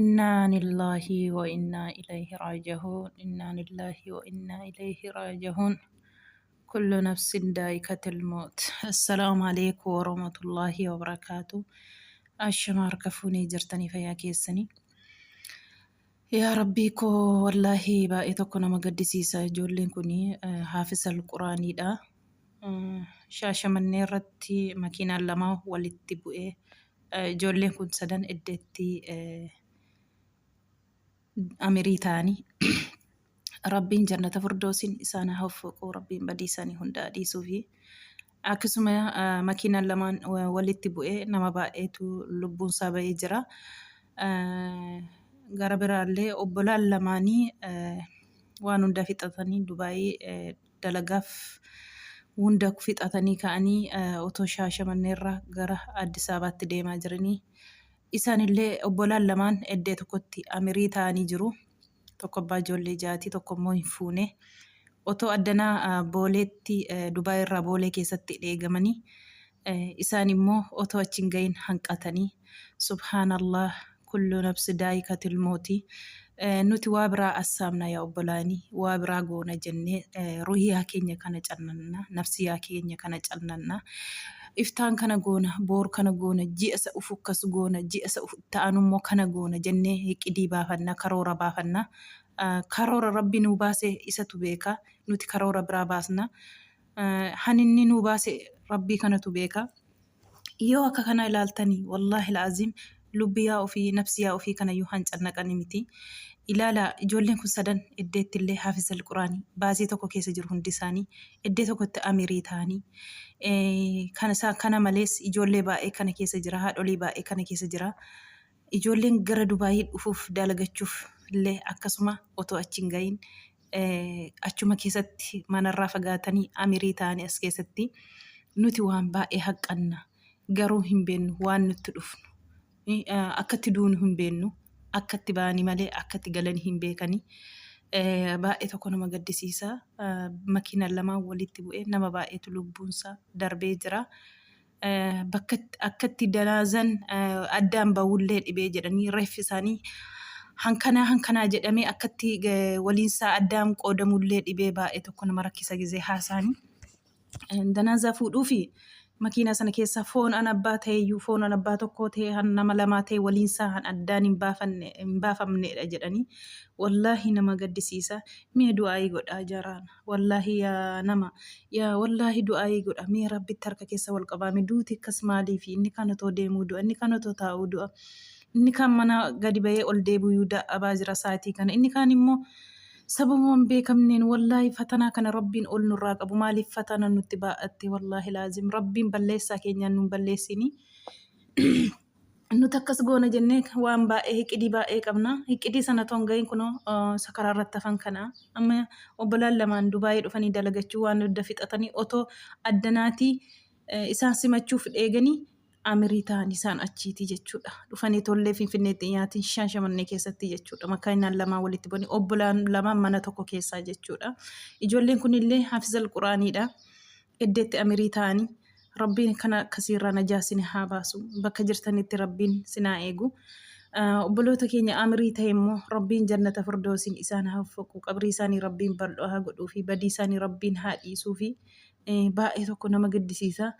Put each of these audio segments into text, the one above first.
Innaanillaahi wa innaa ilayhi raaji'uun Innaanillaahi wa innaa ilayhi raaji'uun Kullu nafsin daa'iqatul mawt Assalaamu aleykum warahmatullaahi wabarakaatu Ashama harka fuunee jirtanii fayyaa keessanii Yaa rabbii koo wallaahi baay'ee tokko nama gaddisiisa ijoolleen kun haafisal quraaniidha Shaashamannee irratti makiinaan lama walitti bu'ee ijoolleen kun sadan eddeetti amirii ta'anii rabbiin jannata furdoosiin isaan haa hoffuquu rabbiin badii isaanii hundaa dhiisuu fi akkasuma makiinaan lamaan walitti bu'ee nama baay'eetu lubbuun isaa ba'ee jira. Gara biraallee obbolaan lamaanii waan hundaa fixatanii Dubaayii dalagaaf hunda fixatanii ka'anii otoo Shaashamanneerraa gara Addis Ababaatti deemaa jiranii isaanillee obbolaan lamaan eddee tokkotti amirii ta'anii jiru. Tokko abbaa ijoollee jaati, tokko immoo hin fuune. Otoo addanaa Booleetti Dubaayiirraa Boolee keessatti dheegamanii Isaan immoo otoo achi hin gahin hanqatanii, Subhaan Allaah, kullu nafsi daa'ikatul mawti, Nuti waa biraa assaabna yaa obbolaanii, waa biraa goona jennee ruhiyaa keenya kana callanna, nafsiyaa keenya kana callanna. Iftaan kana goona, boor kana goona, ji'a isa ufu akkas goona, ji'a isa itti aanu immoo kana goona jennee iqidii baafanna, karoora baafanna. Karoora Rabbi nuu baase isatu beeka, nuti karoora biraa baasna. han inni nuu baase rabbii kanatu beeka yoo akka kana ilaaltani wallaahi la'aziim lubbiyaa ofii nafsiyaa ofii kanayyuu han cannaqani miti ilaala ijoolleen kun sadan eddeetti illee haafizal quraani baasii tokko keessa jiru hundi isaanii eddee tokkotti amirii ta'anii kana isaa kana malees ijoollee baay'ee kana keessa jira haadholii baay'ee kana keessa jira ijoolleen gara dubaayii dhufuuf daalagachuuf illee akkasuma otoo achi hin ga'iin achuma keessatti manarraa fagaatanii amirii ta'anii as keessatti nuti waan baay'ee haqqanna garuu hin beennu waan nutti dhufnu akkatti duunu hin beennu akkatti ba'anii malee akkatti galanii hin beekanii baay'ee tokko nama gaddisiisa makiinaan lamaan walitti bu'ee nama baay'eetu lubbuunsaa darbee jira bakka akkatti danaazan addaan ba'ullee dhibee jedhanii reeffi isaanii hankanaa hankanaa jedhamee akkatti waliinsaa addaan qoodamullee dhibee baay'ee tokko nama rakkisa gizee haasaanii. Danaazaa fuudhuu fi makiinaa sana keessaa foon an abbaa ta'eyyuu foon an abbaa tokkoo ta'e han nama lamaa ta'e waliinsaa han addaan hin baafanne hin baafamneedha jedhanii wallaahi nama gaddisiisa mee du'aayii godhaa jaraana. Wallaahi yaa nama yaa wallaahi du'aa'ii godha mee rabbitti harka keessa wal qabaa mee duuti akkas maaliifi inni kaan otoo deemuu du'a inni kaan otoo taa'uu du'a inni kaan mana gadi bahee ol deebi'uu da'abaa jira saatii kana inni kaan immoo sababuma hin beekamneen wallaahi fatanaa kana rabbiin ol nurraa qabu maaliif fatana nutti baa'atte wallaahi laazim rabbiin balleessaa keenyaan nuun balleessinii Nuti akkas goona jennee waan baay'ee hiqidii baay'ee qabna. Hiqidii sana toon gahin kunoo isa karaa irratti hafan kana. Amma obbolaan lamaan Dubaayii dhufanii dalagachuu waan hunda fixatanii otoo addanaatii isaan simachuuf dheeganii amirii ta'an isaan achiitii jechuudha. Dhufanii tollee Finfinneetti dhiyaatiin Shaashamannee keessatti jechuudha. Makaayinaan lamaan walitti bu'anii obbolaan lamaan mana tokko keessaa jechuudha. Ijoolleen kunillee Hafizal Quraaniidha. Eddeetti amirii taa'anii Rabbiin kana akkasii irraa najaa sini haa baasu bakka jirtanitti Rabbiin sinaa eegu obboloota keenya amirii ta'e immoo Rabbiin jannata firdoosiin isaan haa uffaqu qabrii isaanii Rabbiin bal'oo haa godhuu fi badii isaanii Rabbiin haa dhiisuu fi baay'ee tokko nama gaddisiisa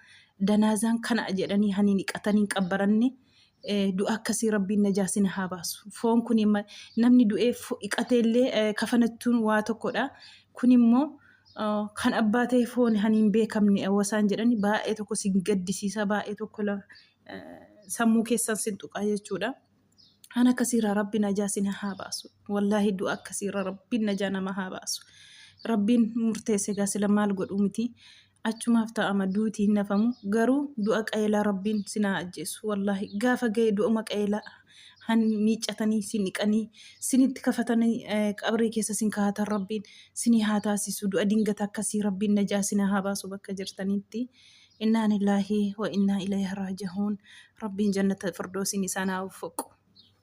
danaazaan kana jedhanii hanii niqatanii hin qabbaranne du'a akkasii rabbiin najaa sin haa baasu foon kun namni du'ee dhiqatee illee kafanachuun waa tokkodha kun immoo kan abbaa ta'e foon kan hin beekamne wasaan jedhani baay'ee tokko sin gaddisiisa baay'ee tokko sammuu keessan sin tuqaa jechuudha. Kan akkasiirraa rabbi najaa sin haa baasu. Wallaahi du'a akkasiirra rabbiin najaa nama haa baasu. Rabbiin murteesse gaa sila maal godhuu miti. achumaaf ta'ama duuti hin nafamu garuu du'a qayeelaa rabbiin sinaa ajjeessu wallaahi gaafa ga'e du'uma qayeelaa han miiccatanii sin dhiqanii sinitti kafatanii qabrii keessa sin kaa'atan rabbiin sinii haa taasisu du'a dingata akkasii rabbiin najaa sinaa haa baasu bakka jirtanitti innaa nillaahi wa innaa ilayhi raaji'uun rabbiin jannata firdoosiin isaan haa waffiqu.